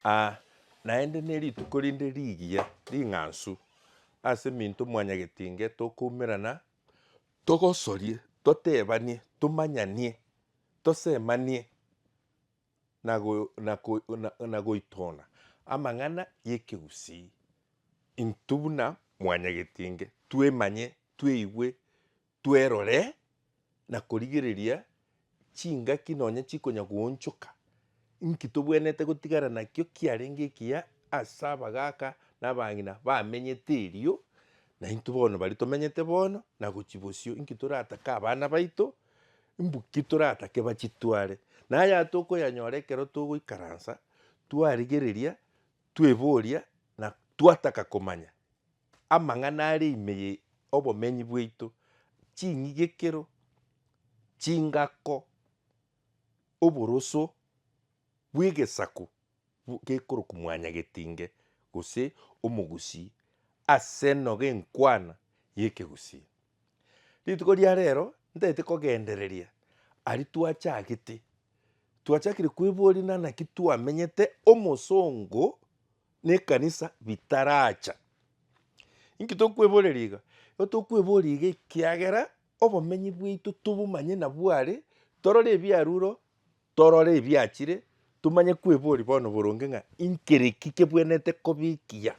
Aa, naende nerituko rinde rigiya ring'ansu ase minto mwanyagetinge tokoumerana, togosorie, totebanie, tomanyanie, tosemanie, na goitona amang'ana y'ekegusii, intwe buna mwanyagetinge twemanye, tweigwe, Twerore na korigereria chingaki nonya chikonya goonchoka. Inki tobwenerete gotigana nakio kiarenge ekiya ase abagaaka na abang'ina bamenyete erio naintwe bono baria tomenyete bono na gochia bosio? Inki toratake abana baito? Imbuki toratake bachitware? Naya tokoyanyora ekero togoikaransa twarigereria, tweboria, na twataka komanya amang'ana are ime ye obomenyi bwaito, ching'igekero, chingako, oboroso bw'egesaku gekorokwa mwanyagetinge gose omogusii ase enoga enkwana y'ekegusii. Rituko ria rero ntaete kogendereria aria twachagete, twachakire kweboria na naki twamenyete omosongo na ekanisa bitaracha. Inki tokweboreria iga? Igo tokweboria iga ekiagera obomenyi bwaito tobomanye nabware torore ebiaruro Torore ebiachire, tomanye kweboria bono boronge ng'a inkere ki kebwenerete kobikia.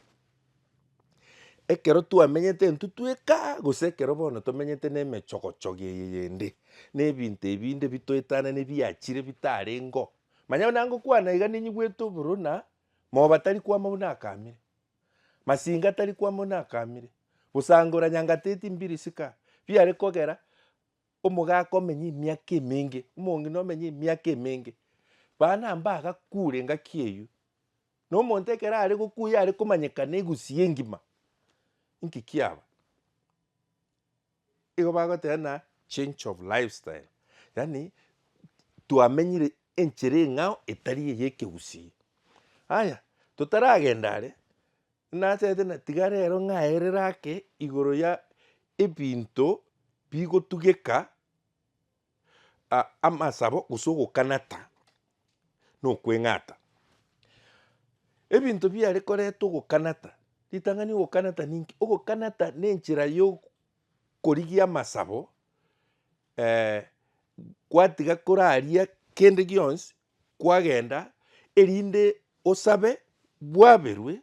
Ekero twamenyete intwe tweka gose ekero bono tomenyete na emechogochogo eye yende, na ebinto ebinde bitoetana na ebiachire bitarengo. Manya buna ngokwana iga ninyigwete oboruna, moba tari kwama buna akamire, masinga tari kwama buna akamire, gosangora nyanga teti mbiri sika biare kogera Omogaka omenye emiaka emenge, omong'ina omenye emiaka emenge, bana mbagakuure engaki eyio. Na omonto ekero are gokuya are komanyekana egusii engima, inki kiaba? Igo bagoteba ng'a change of lifestyle, yaani twamenyire enchera eng'ao etari eye ekegusii. Aya, totaragenda are, Inacharete na tiga rero ng'aerere ake igoro ya ebinto bigotugeka amasabo gose ogokanata na okweng'ata. Ebinto biare koreta ogokanata, ritang'ani ogokanata ninki? Ogokanata ne enchera ya okorigia amasabo gwatiga koraria kende gionsi kwagenda erinde osabe bwaberwe,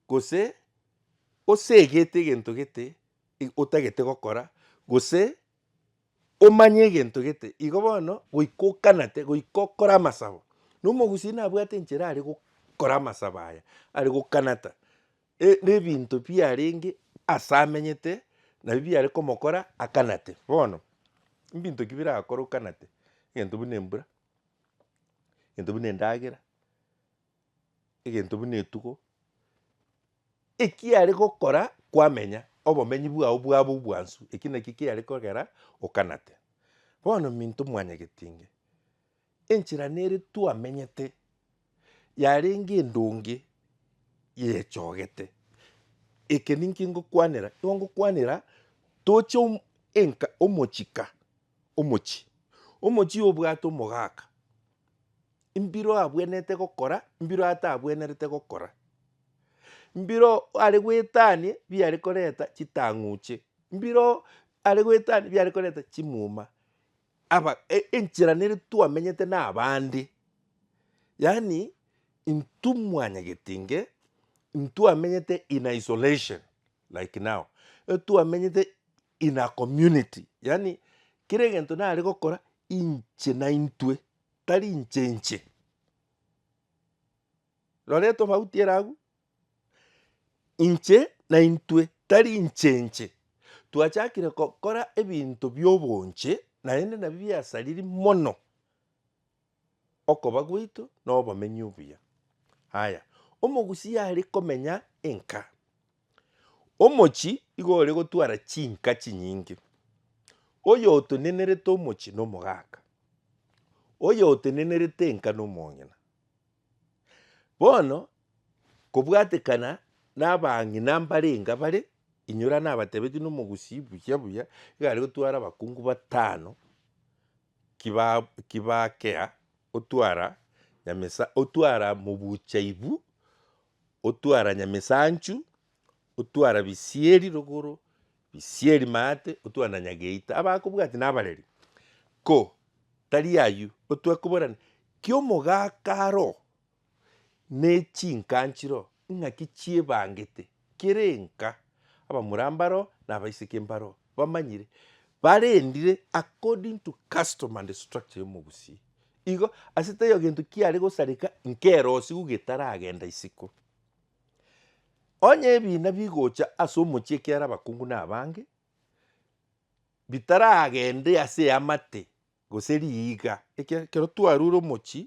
gose osegete egento gete otagete gokora, gose omanye egento gete, igo bono goika okanate, goika okore amasabo. Na omogusii nabwate enchera are gokora amasabo aya, are gokanata. E, nebinto biarenge ase amenyete, nabio biare komokora akanate. Bono, mbinto ki birakore okanate? Egento buna embura, egento buna endagera, egento buna etugo, ekiare gokora kwamenya, obomenyi bwao bwabe obwansu, eki nakio kiare kogera okanate. Bono minto mwanyagetinge. Enchera nere twamenyete yarenge endonge yechogete. Eke ninki ngokwanera, nigo ngokwanera toche om- enka omochie ka, omochie, omochie obwate omogaka, mbiro abwenerete gokora, mbiro atabwenerete gokora, mbiro are goetania biare koreta chitang'uche, mbiro are goetania biare koreta chimuma, aba e- enchera nere twamenyete na abande, yaani intwe mwanyagetinge ntwamenyete in isolation like now, etwamenyete in a community, yaani kera egento nare gokora inche na intwe tari inche inche. Rora etofauti ere agwo. Inche na intwe tari inche inche twachakire gokora ebinto bi'obonche, naende nabio biasariri mono okoba gwaito na obomenyi obuya. Haya, omogusia are komenya enka, omochi igo ore gotwara chinka chinyinge, oyo otenenerete omochi nomogaka, oyo otenenerete enka nomong'ina. Bono, kobwatekana nabang'ina mbarenga bare, inyora nabatebetie nomogusii buya buya, iga aria gotwara abakungu batano kiba- kibakea, otwara nyamesa otwara mobuchaibu, otwara nyamesanchu. otwara bisieri rogoro, bisieri maate, otwara na nyageita, abakobwati nabareri. Ko tari ayio, otware koborana ki'omogaka aro ne chinka nchiro, ing'aki chiebangete, kera enka, abamura mbaro na abaiseke mbaro, bamanyire, barendire according to custom and structure ya omogusi. Igo, ase taiyo gento kiare gosareka nkerosia igo getaragenda isiko. Onye ebiina bigocha ase omochie ekiara abakungu na abange, bitaragende ase eamate gose riiga, ekiagera ekero twarure omochie,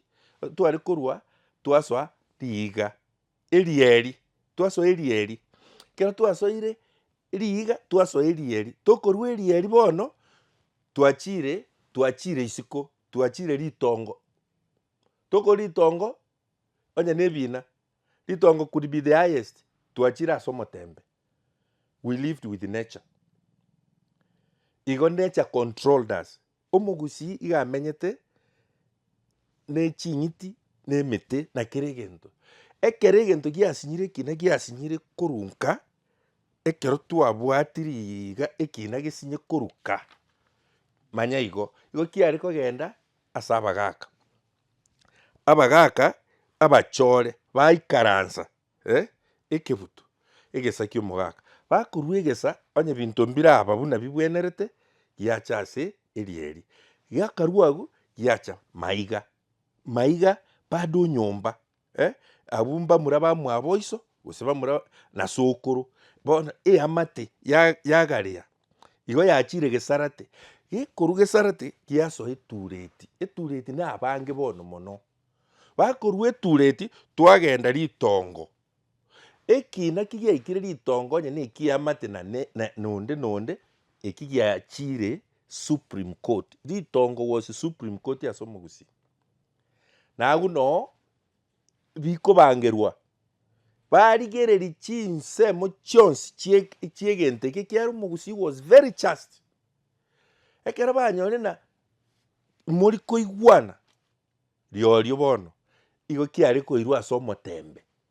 tware korwa twasoa riiga erieri, twasoa erieri, ekero twasoire riiga twasoa erieri, tokorwa erieri bono twachire twachire isiko, twachire ritongo, tokorwa ritongo onye na ebiina. Ritongo could be the highest, twachire ase omotembe, we lived with nature. Igo nature controlled us. Omogusii iga amenyete neching'iti na emete na kera egento. Ekero egento giasinyire ekina giasinyire korunka, ekero twabwatiri iga ekina gesinye koruka, manya igo. Igo kiare kogenda ase abagaka. abagaaka abachore baikaransa ekebuto egesa ki'omogaaka, bakorua egesa onye binto mbiraba buna bigwenerete, giacha ase eria eria. Giakarua agwo giacha maiga maiga bado nyomba. eh, abwo mbamura bamwaboiso, gose bamura na sokoro, bono eamate ya- yagareya igo yachire gesarate, gekorwa gesarate giasoa etureti, etureti na abange bono mono. Bakorwa etureti twagenda ritongo, ekina ki giaikire ritongo onye na ekiamate na ne- ne nonde nonde eki giachire supreme court, ritongo was supreme court ase omogusii. Na agwo noo bikobangerwa, barigererie chinsemo chionsi chie chiegento eke ekiagera omogusii was very just. Ekero banyore na mori koigwana riorio bono, igo kiare koirwa ase omotembe.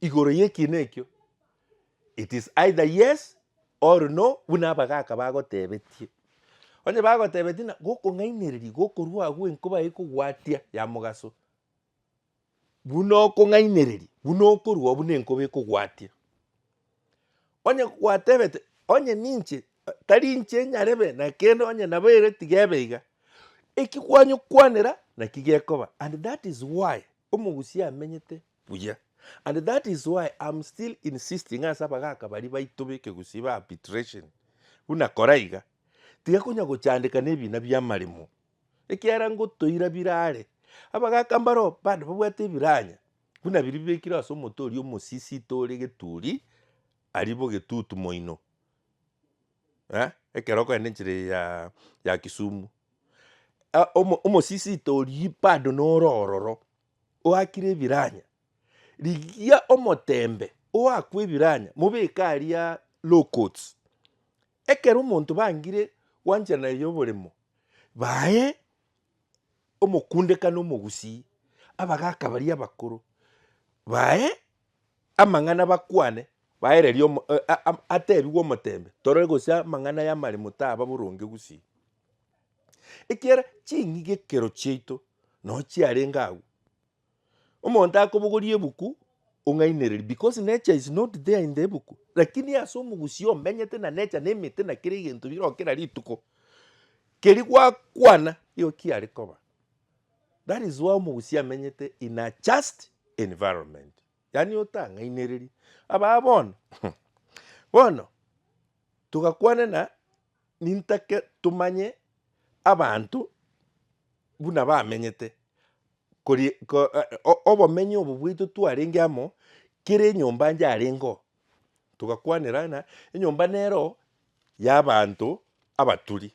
igoro y'ekiina ekio, it is either yes or no buna abagaaka bagotebetie. Onye bagotebetie na gokong'ainereria gokorwa agwo enkoba ekogwatia ya mogaso, buna okong'ainereria buna okorwa oo buna enkoba ekogwatia. Onye gwatebete onye ninche tari inche nyarebe na kende onye nabo ere tiga ebe iga, eki kwanyokwanera naki gekoba and that is why omogusia amenyete buya. And that is why I'm still insisting ase abagaka baria baito b'ekegusii ba arbitration, buna kora iga, tiga konya gochandeka nebina bi'amaremo, ekiagera ngotoira birare. Abagaka mbaro bande babwate ebiranya, buna biria bibekirwe ase omote oria omosisito ore geturi, aria bo getutu moino, eh, ekero okogenda enchera eye ya ya kisumu. Omosisito oria bado noro ororo. Oakire ebiranya, rigia omotembe oakwe ebiranya mobeke aria low coats. Ekero omonto bangire gwancha naye yoboremo, baye omokunde kana omogusii, abagaka baria abakoro baye amang'ana bakwane, baererio atebigwe omotembe torore gose amang'ana y'amaremo taba boronge gusii. Ekiagera ching'ige ekero chiaito noo chiarenge agwo, omonto akobogoria ebuku ong'ainereria because nature is not there in the ebuku lakini ase omogusii omenyete na nature na emete na kera egento bire oo kera rituko, keri gwakwana nigo kiare koba that is why omogusii amenyete in a just environment yaani otang'ainereria. Abaa bono, bono togakwana ng'a. nintake tomanye abanto buna bamenyete, kori ko o- obomenyo obo bwaito twarenge amo, kera enyomba yarenge oo, togakwanera ng'a enyomba nero yabanto abaturi.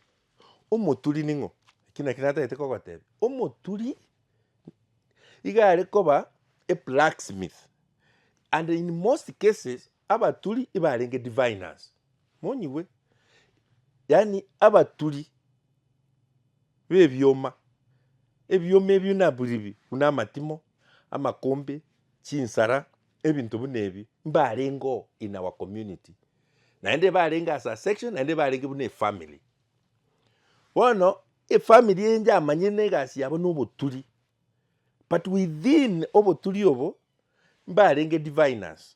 Omoturi ning'o? Ekio nakio natagete kogotebia, omoturi iga arekoba eblacksmith, and in most cases Abaturi ibarenge diviners monyigwe, yaani abaturi bebioma, ebioma ebio nabiribi buna amatimo, amakombe, chinsara, ebinto buna ebio mbarengeo in our community, naende barenge as a section naende barenge buna efamily. Bono efamily eye yamanyire na egasi yabo na oboturi but within oboturi obo mbarenge diviners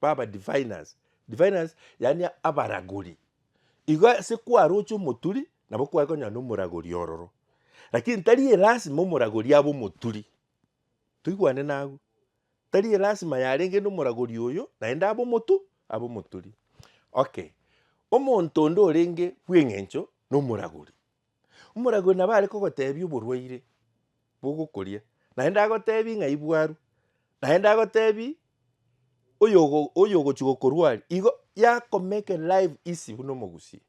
baba diviners, diviners yaani abaragori. Igo ase kwaroche omoturi nabo kware konyora na omoragori ororo, lakini tari elasima omoragori abe omoturi, toigwane na agwo, tari elasima yarenge na omoragori oyo naende abe omotu abe omoturi. Okay, omonto onde orenge bw'eng'encho na omoragori, Omoragori nabo are kogotebia oborwaire bogokoria, naende agotebie ng'ai bwarwa, naende agotebie oyogo oyogochia gokorwa aria, igo yakomeke live easy buna omogusie.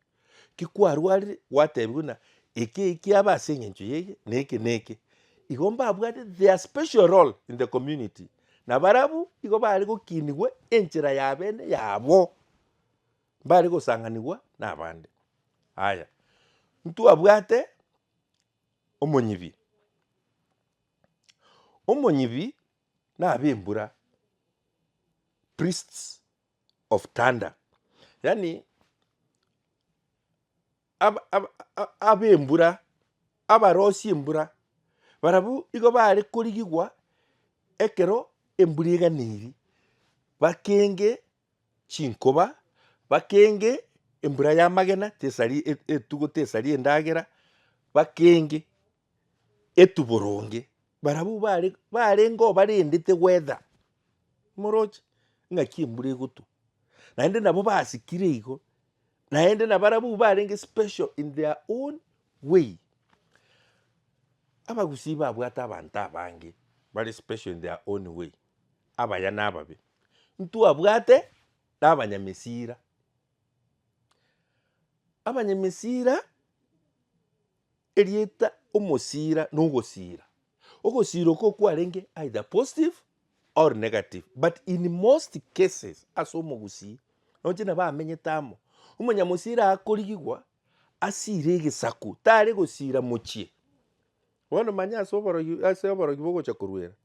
Ki kwarwarire gwatebiwa ng'a eke eke kiaba ase eng'encho yeiyi na eke na eke. Igo mbabwate their special role in the community na barabwo igo bare gokinigwe enchera ya bene yabo. mbare gosanganigwa nabande. Aya, ntwabwate omonyibi. Omonyibi na abembura, priests of thunder, yaani ab- ab- ab- abembura, abarosi embura, barabwo igo bare korigigwa ekero embura eganeiri, bakenge. chinkoba, bakenge embura y'amagena tesari etugo tesari endagera, bakenge etu boronge, barabwo bare barenge obarendete weather moroche ng'aki embura egotwa, naende nabo basikire igo, naende na barabwo barenge special in their own way. Abagusii babwate abanto abange bare special in their own way. abaya na ababe, ntwabwate nabanyamesira. Abanyamesira, erieta omosira nogosira. Ogosira oko kwarenge either positive or negative but in most cases ase omogusii roche nabo amenyete amo, omonyamosira akorigigwa asire egesaku tare gosira mochie. Bono manya ase oborogi ase oborogi bogocha korwera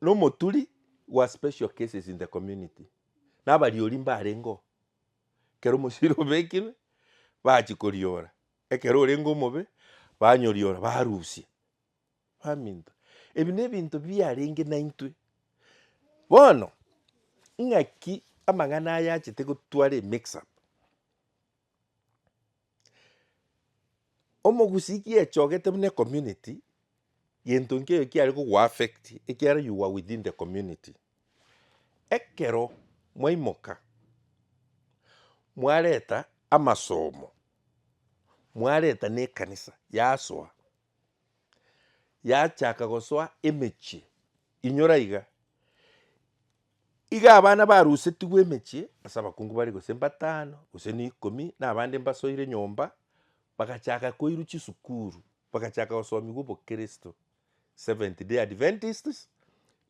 nomoturi wa special cases in the community, na abariori mbarengeo ekero omosibore obekirwe bachia koriora, ekero orenge omobe banyoriora barusia, baminto. Ebi ne ebinto biarenge naintwe. Bono, ng'aki amang'ana aya achete gotwara emix up? Omogusii ki echogete buna ecommunity, gento nkeiyo kiare kogo affect ekiara you were within the community. Ekero mwaimoka, mwareta amasomo, mwareta ne ekanisa yasoa, yachaka gosoa emechie inyora iga. Iga abana barusetigwe emechie ase abakungu bare gose mbatano gose na ikomi, na abande mbasoire nyomba, bagachaka koirwa chisukuru, bagachaka gosomigwa obokristo, Seventh Day Adventists,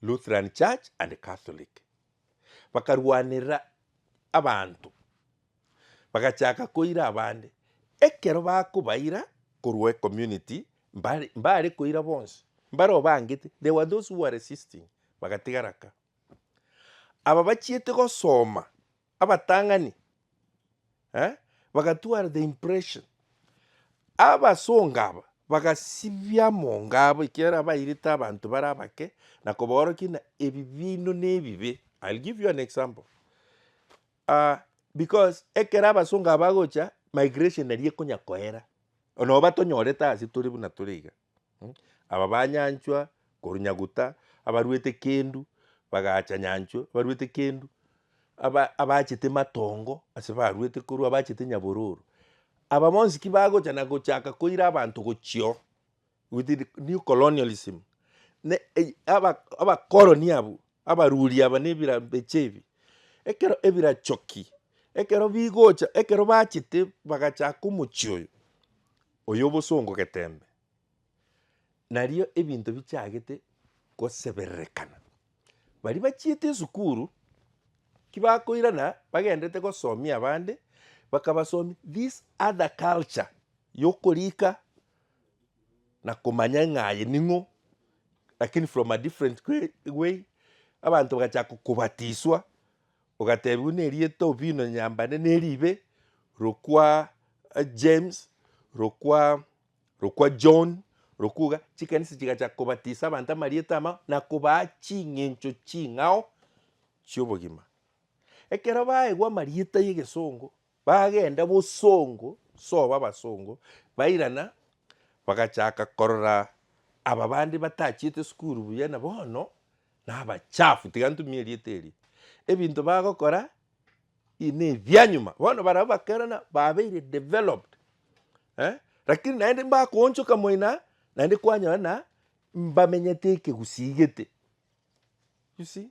Lutheran Church, and Catholic. Bakarwanera abanto. Bagachaaka koira abande. Ekero bakobaira korwa ecommunity mbare mbare koira bonsi mbare obangete there were those who were resisting bagatigara ka. Aba bachiete gosoma abatang'ani eh bagatwara the impression abasonga aba bagasibia amonga abo ekiagera abairete abanto bare abake na kobaorokia ng'a ebi biaino nebibe, I'll give you an example, Aa, because ekero abasongo aba bagocha, migration eria ekonya koera. Nabo batonyorete ase tore buna tore iga. Mh, aba ba Nyanchwa, korwa Nyaguta, abarwete Kendu, bagacha Nyanchwa, abarwete Kendu, aba abachete Matongo, ase barwete korwa, abachete Nyabororo. Aba bonsi ki bagocha na gochaka koira abanto gochia oo. With the new colonialism, ne ey- aba- abakoroni abwo abaruri aba nebirambeche ebi ekero ebirachoki ekero bigocha ekero bachete bagachaka omochie oyo oyo obosongo getembe nario ebinto bichagete gosebererekana. Baria bachiete esukuru ki bakoirana bagendete gosomia abande bakabasomia this other culture yokorika na komanya ng'a aye ning'o, lakini from a different way- way, abanto bagachaka kobatiswa, ogatebiwa na erieta Obino Nyambane na eribe, rokwa eh, James, rokwa rokwa John, rokwa iga, chikanisa chigachaka kobatisa abanto amarieta amao na kobaa ching'encho ching'ao chi'obogima. Ekero baegwa amarieta y'egesongo, Bagenda bosongo, soba abasongo, bairana, bagachaka korora aba bande batachiete sukuru buya na bono nabachafu, tiga ntumie erieta eria, ebinto bagokora ii nebianyuma. Bono barabwo bakerana babeire developed eh, rakini naende mbakoonchoka moina naende kwanyora na mbamenyete ekegusii gete, you see.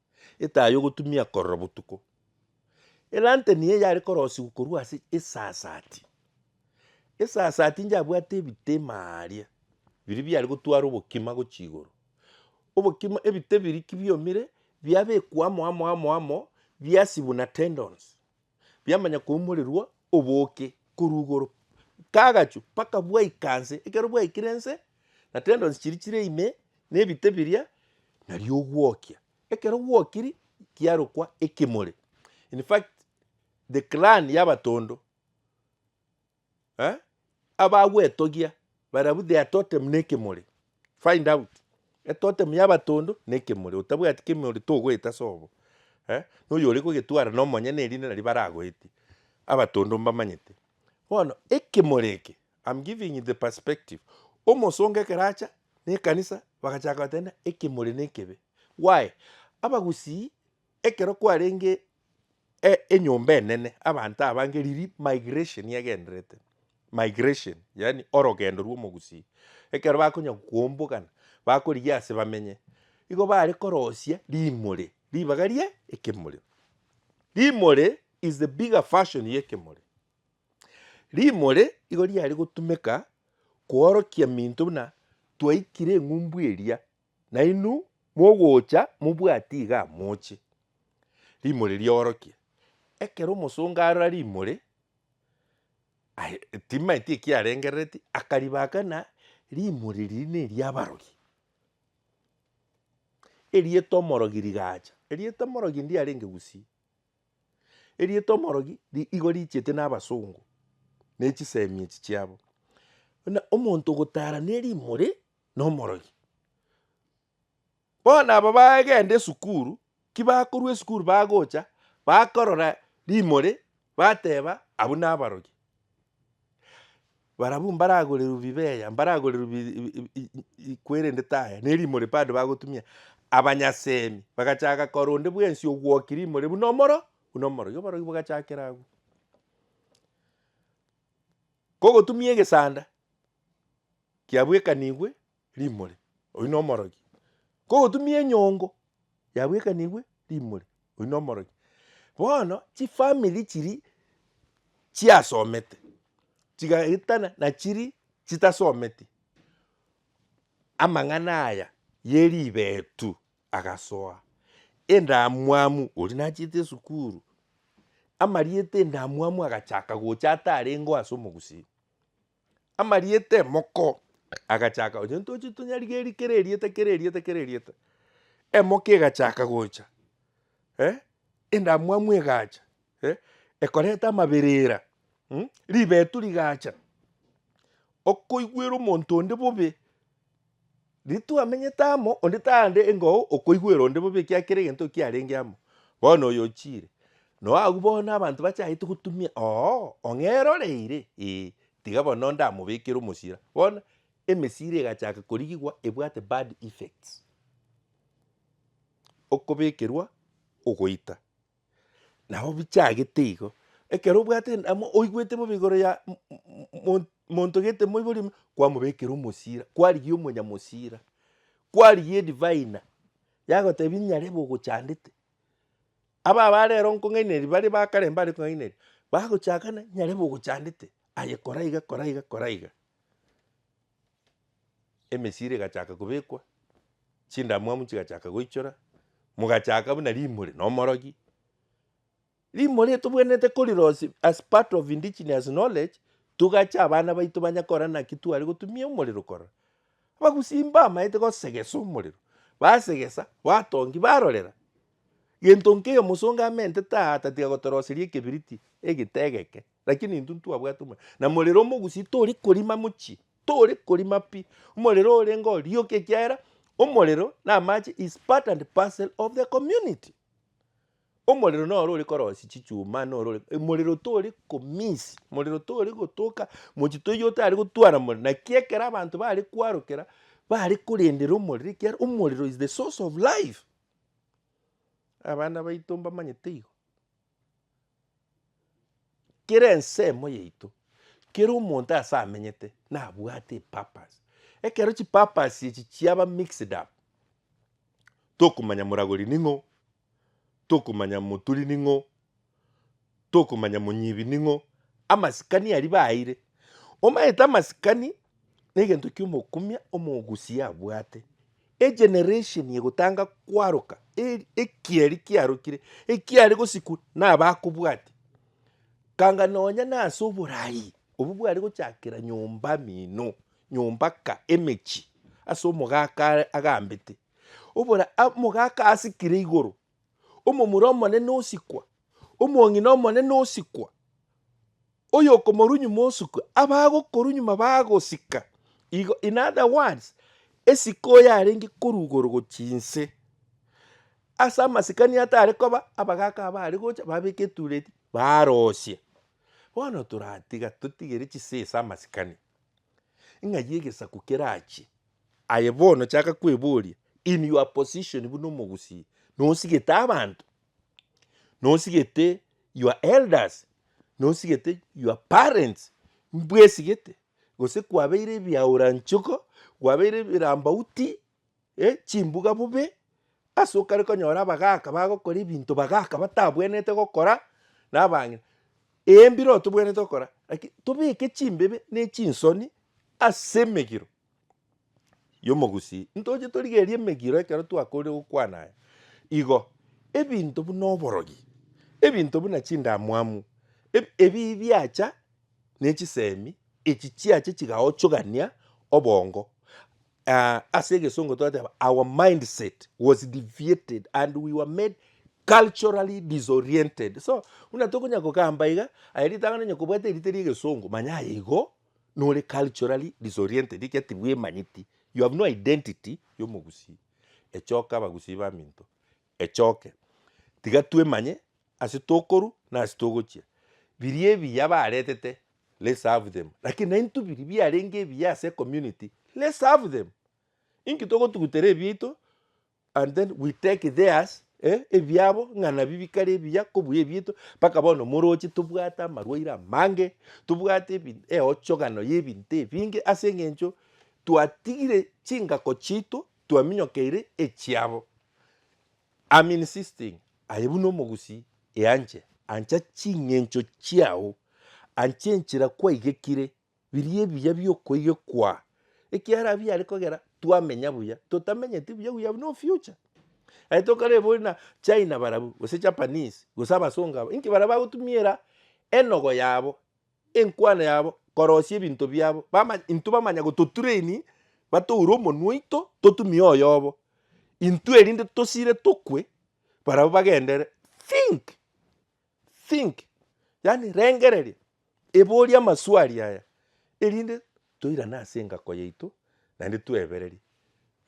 Etaa y'ogotumia korora botuko. Elantern eye yare korosigwa korwa ase esasati. Esasati inche abwate ebita imaaaa aria, biria biare gotwara obokima gochia igoro. Obokima ebita ebiria ki biomire, biabekwa amo amo amo amo biasibwa na tendons. Biamanya koumorerwa obooke korwa igoro, kagachwa mpaka bwaika nse. Ekero bwaikire nse, na tendons chiria chire ime, na ebite biria, nario ogwokia. Ekero gwokiri, kiarokwa ekemore. In fact, the clan y'abatondo Eh? Abagwetogia barabwo they are totem ne ekemori. Find out. E totem ya abatondo ne ekemori. Otabwati kemori togoeta ase obo. Eh? Na oyo ore kogetwara na omonyene erinde naria baragoetie. Abatondo mbamanyete. Bono ekemori eke I'm giving you the perspective. Omosongo ekero acha ne ekanisa bagachaka gotenena ekemori ne ekebe. Why? Abagusii Ekero kwarenge e, enyomba enene, abanto abange riria migration yagenderete, migration, yaani orogendo rw'omogusii, ekero bakonya kombogana, bakorigia ase bamenye, igo bare korosia rimore, ribaga rie ekemore. Rimore is the bigger version ya ekemore. Rimore igo riare gotumeka koorokia minto buna twaikire eng'umbu eria, Nainwe mogocha mobwati iga amoche rimori riorokia, ekero omosongo arora rimori, aye timaeti ekiarengerereti, akaribaka ng'a rimori riria neriabarogi. Erieta omorogi rigacha, erieta omorogi ndiarenge gusii, erieta omorogi ri- igo richete na abasongo, ne chisemi echi chiabo. Buna omonto ogotara ne rimori, nomorogi. Bono aba bagenda esukuru, ki bakorwa esukuru bagocha bakorora rimori bateba abwo nabarogi. Barabwo mbaragoreru bibeya, mbaragoreru bi- i- i- i- i- ikwerendete aya, ne rimori bado bagotumia, abanyasemi bagachaka korora onde bwensi ogwoki rimori buna omoro buna omorogi, oborogi bogachakera agwo. Kogotumia egesanda. kiabwekanigwe rimori, oyio nomorogi. Kogotumia enyongo yabwekanigwe rimori, oyio nomorogi. Bono chifamiri chiri chiasomete chigaetana nachiri chitasometi, amang'ana aya yeribetu agasoa, endamwamu oria nachete esukuru, amarieta endamwamu agachaka gocha atarengo ase omogusii. amarieta emoko, agachaka gocha ntoche tonyarigerie kera erieta kera erieta kera erieta, emoko egachaka gocha eh, endamwamu egacha eh, ekoreta amaberera mm, ribetu rigacha, okoigwera omonto onde bobe. Ritwamenyete amo, onde tare engao okoigwera onde bobe ekiagera kera egento kiarenge amo. Bono oyo ochiire. Noo agwo bono abanto bachagete gotumia oo ong'ee roreire ee tiga bono onde amobekere omosira. Bono emesira egachaka korigigwa ebwate bad effects. Okobekerwa ogoita. Nabo bichagete igo, ekero obwate en- ama oigwete bobe igoro ya m- m- mon- monto gete moibori ime, kwamobekera omosira, kwarigia omonyamosira, kwarigia edivai ina, yagotebi nyarebe ogochandete. Aba abare ero nkong'ainereria baria ba kare mbare kong'ainereria, bagochakana nyarebe ogochandete, aye kora iga kora iga kora iga. emesiri egachaka kobekwa, chindamwamu chigachaka goichora, mogachaka buna rimori na omorogi. Rimori tobwenerete korirosia as part of indigenous knowledge, togache abana baito banye kora naki tware gotumia omorero korora. Abagusii mbamaete gosegesa omorero, basegesa, batongi, barorera, gento nkeiyo mosongo amentete aa tatiga gotoroseria ekebiriti, egita egeke, Lakini intwe ntwabwate omorero, na morero omogusie tori korima mochie, tori korima pi, omorero orenge orioka ekiagera omorero na amache is part and parcel of the community. Omorero noro ore korosia chichuma, noro ore, omorero tori ko miss, omorero tori gotoka mochie toiyo otari gotwara omorero. Naki ekero abanto bare kwarokera, bare korendera omorero ekiagera omorero is the source of life. Abana baito mbamanyete igo. Kera ensemo yaito, kera omonto ase amenyete nabwate epurpose. Ekero chipurpose echi chiaba mixed up, tokomanya moragori ning'o, tokomanya moturi ning'o, tokomanya monyibi ning'o, amasikani aria baeire. Omanyete amasikani. Negento ki omokumia omogusia abwate? Egeneration egotanga kwaroka eri ekieri kiarokire ekiare gosikwa nabakobwati kanga nonya nase oborai obo bware gochakera nyomba mino nyomba ka emechi ase omogaka are agambete obora omogaka asikire igoro Omomura omonene osikwa, omong'ina omonene osikwa, oyokomorunyuma osukwa, abagokorunyuma bagosika. Igo, in other words, esike oyarenge korwa igoro gochia inse. Ase amasikani atare koba, abagaka aba are gocha babeke etureti barosie. Bono toratiga totigere chisesa amasikani, ng'ai egesaku kerachie. Aye bono chaka kweboria in your position buna omogusii nosigete abanto, nosigete your elders, nosigete your parents mbwesigete gose kwabeire ebiaura nchiko, kwabeire ebirambauti, eh, chimbuga bobe, ase okare konyora abagaka bagokora ebinto bagaka batabwenerete gokora na abang'ina. Eeh mbireo tobwenerete gokora lakini tobeke chimbebe ne chinsoni ase emegiro. y'omogusi, ntoche torigerie emegiro ekero twakoorire gokwana aya. Igo, ebinto buna oborogi, ebinto buna chindamwamu, eb- ebibi biacha ne chisemi, echi chiacha chigaochogania obongo. Aah, ase egesongo twateba our mindset was deviated and we were made culturally disoriented. So, buna tokonyara gokamba iga, aye ritang'ani onye kobwate erite ria egesongo, manya aye igo. nore culturally disoriented ekiya tibwemanyeti you have no identity yomogusii, echoka abagusii baminto echoke tiga twemanye ase tokoru na ase togochia. Biria ebiya baretete let's have them lakini naintwe biria biarenge ebiya ase ecommunity let's have them inki togotugutera ebiaito and then we take theirs eh, ebiabo ng'a nabi bikare ebiya kobuya ebiito mpaka bono moroche tobwate amarwaire amange tobwate ebi- eochogano y'ebinto ebinge ase eng'encho twatigire chingako chiito twaminyokeire echiabo I'm insisting aye buna omogusii eanche ancha ching'encho chiao anche enchera kwaigekire biria ebiya bi'okoigekwa, ekiagera abwo biare kogera twamenya buya, totamenyeti buya we have no future. Aye tokarebe bori na China barabwo, gose Japanese, gose abasongo aba, inki baria bagotumiera enogo yabo, enkwana yabo korosia ebinto biabo, bama intwe bamanya gototraini, batoure omonwe oito totumie oyobo, intwe erinde tosire tokwe, barabwo bagendere, think! Think, yaani rengereria, eboria amaswali aya, erinde toirane ase engako yaito naende twebererie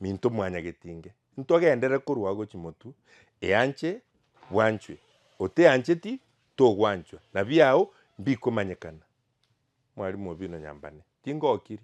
minto mwanyagetinge. Ntogenderere korwa agwo chimotu, eanche bwanchwe, oteancheti togwanchwa, na biao mbikomanyekana. Mwarimu obi buna nyambane, tingokiri.